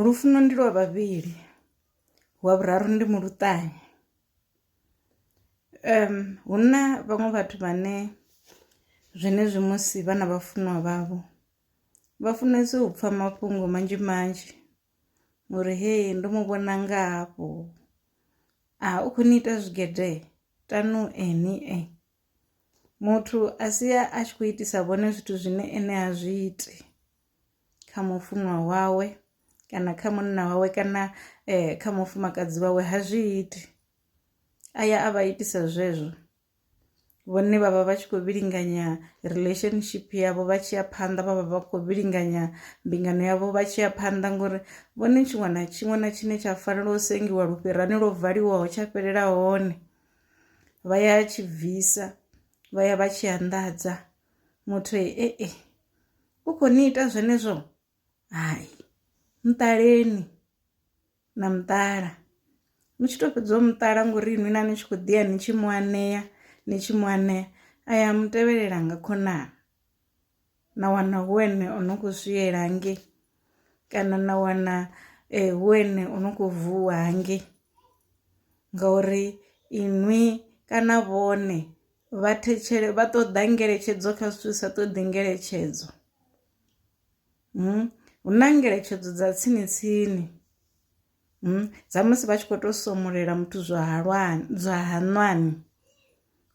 Lufuno ndi lwa vhavhili wa vhuraru ndi muluṱani hu na vhaṅwe vhathu vhane zwenezwi musi vha na vhafunwa vhavho vha funesa u pfha mafhungo manzhi manzhi uri hei ndo mu vhona nga hafho a u kho ni ita zwigede tanu ni muthu a sia a tshi kho itisa vhone zwithu zwine ene a zwi iti. kha mufunwa wawe kana kha munna wawe kana eh, kha mufumakadzi wawe ha zwi iti a ya a vha itisa zwezwo vhone vha vha vha tshi khou vhilinganya relationship yavho vha tshi ya phanḓa vha vha vha khou vhilinganya mbingano yavho vha tshi ya phanḓa ngori vhone tshiṅwe na tshiṅwe na tshine tsha fanela u sengiwa lufhirani lwo valiwaho tsha fhelela hone vha ya tshi bvisa vha ya vha tshi anḓadza muthu e e u khou ni ita zwenezwo hai muṱaleni na muṱala ni tshi to fhedza u muṱala ngori inwi na ni tshi khou ḓiya ni tshi mu anea ni tshi mu anea a ya mu tevhelela nga khonani na wana hu ene o no khou swiela hangei kana na wana eh, hu ene o no khou vuwa hangei ngauri inwi kana vhone Vhathetshele vha ṱoḓa ngeletshedzo kha zwithu sa ṱoḓi ngeletshedzo hmm? hu na ngeletshedzo dza tsini tsini hmm? dza musi vha tshi khou tou somulela muthu zwa halwani zwa haṋwani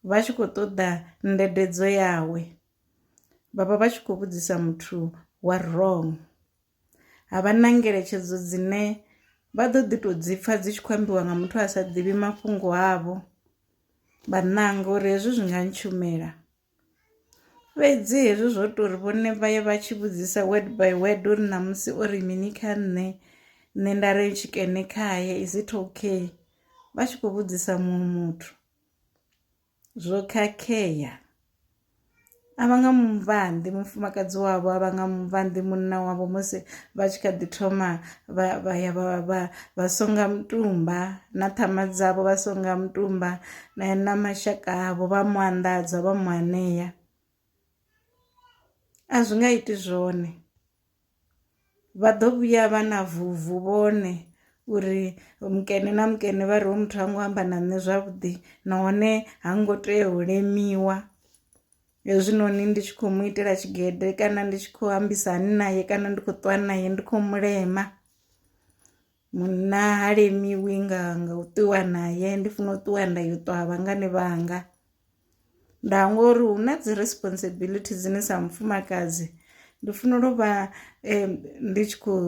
vha tshi khou ṱoḓa ndededzo yawe vhavha vha tshi khou vhudzisa muthu wa wrong. ha vha na ngeletshedzo dzine vha ḓo ḓi tou dzi pfha dzi tshi khou ambiwa nga muthu a sa ḓivhi mafhungo avho vha ṋanga uri hezwi zwi nga ntshumela fhedzi hezwi zwo tou ri vhone vha ye vha tshi vhudzisa word by word uri ṋamusi o ri mini kha nṋe nṋe nda ri tshikene khaye is it okay vha tshi khou vhudzisa muṅwe muthu Zwo khakhea. A vha nga muvhanḓi mufumakadzi wavho a vha nga muvhanḓi munna wavho musi vha tshi kha ḓi thoma vha vha ya vha vha vha songa mutumba na ṱhama dzavho vha songa mutumba na na mashaka avho vha mu anḓadza vha mu anea a zwi nga iti zwone vha ḓo vhuya vha na vuvu vhone uri mukene na mukene vha ri hoyu muthu ha ngo amba na nṋe zwavhuḓi nahone ha ngo tea u limiwa hezwinoni ndi tshi khou mu itela tshigede kana ndi tshi khou ambisa hani naye kana ndi khou ṱwa naye ndi khou mulema. Munna ha limiwi nga nga u ṱuwa naye ndi funa u ṱuwa nda yo ṱwa ha vhangani vhanga nda hangwa uri hu na dzi responsibility dzine sa mufumakadzi ndi funela u vha ndi tshi khou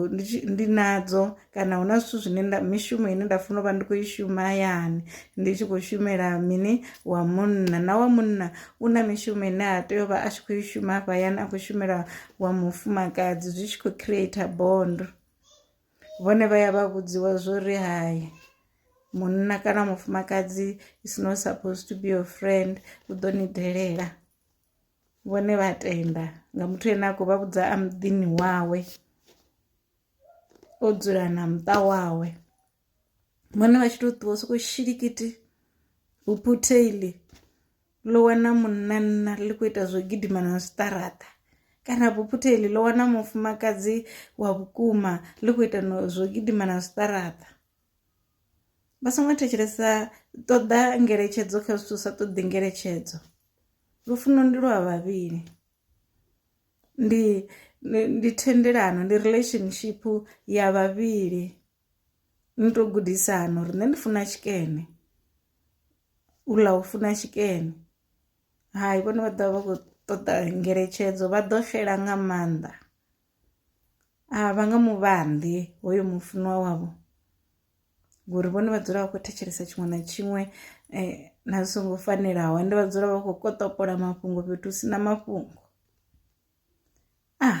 ndi nadzo kana hu na zwithu zwine nda mishumo ine nda funa u vha ndi khou i shuma hayani ndi tshi khou shumela mini wa munna na wa munna u na mishumo ine a tea u vha a tshi khou i shuma hafha hayani a khou shumela wa mufumakadzi zwi tshi khou creator bond. vhone vha ya vha vhudziwa zwo ri hai munna kana mufumakadzi is not supposed to be your friend u ḓo ni delela vhone vha tenda nga muthu ane a khou vha vhudza a muḓini wawe o dzula na muṱa wawe vhone vha tshi to ṱuwa soko shilikiti vhuphutheili ḽo wana munna ḽi khou ita zwo gidima na zwiṱaraṱa kana buphutheli ḽo wana mufumakadzi wa vhukuma ḽi khou ita zwo gidima na zwiṱaraṱa vha songo thetshelesa ṱoḓa ngeletshedzo kha zwithu sa ṱoḓi ngeletshedzo lufuno ndi lwa vhavhili ndi ndi thendelano ndi relationship ya vhavhili ni to gudisa hani uri nṋe ndi funa tshikene u ḽa u funa tshikene hai vhone vha ḓovha vha kho ṱoḓa ngeletshedzo vha ḓo xela nga maanḓa a vha nga mu vhanḓi hoyo mufunwa wavho ngori vhone vha dzula vha khou thetshelesa tshiṅwe na tshiṅwe na zwi songo fanelaho ende vha dzula vha khou koṱopola mafhungo fhethu hu si na mafhungo ah.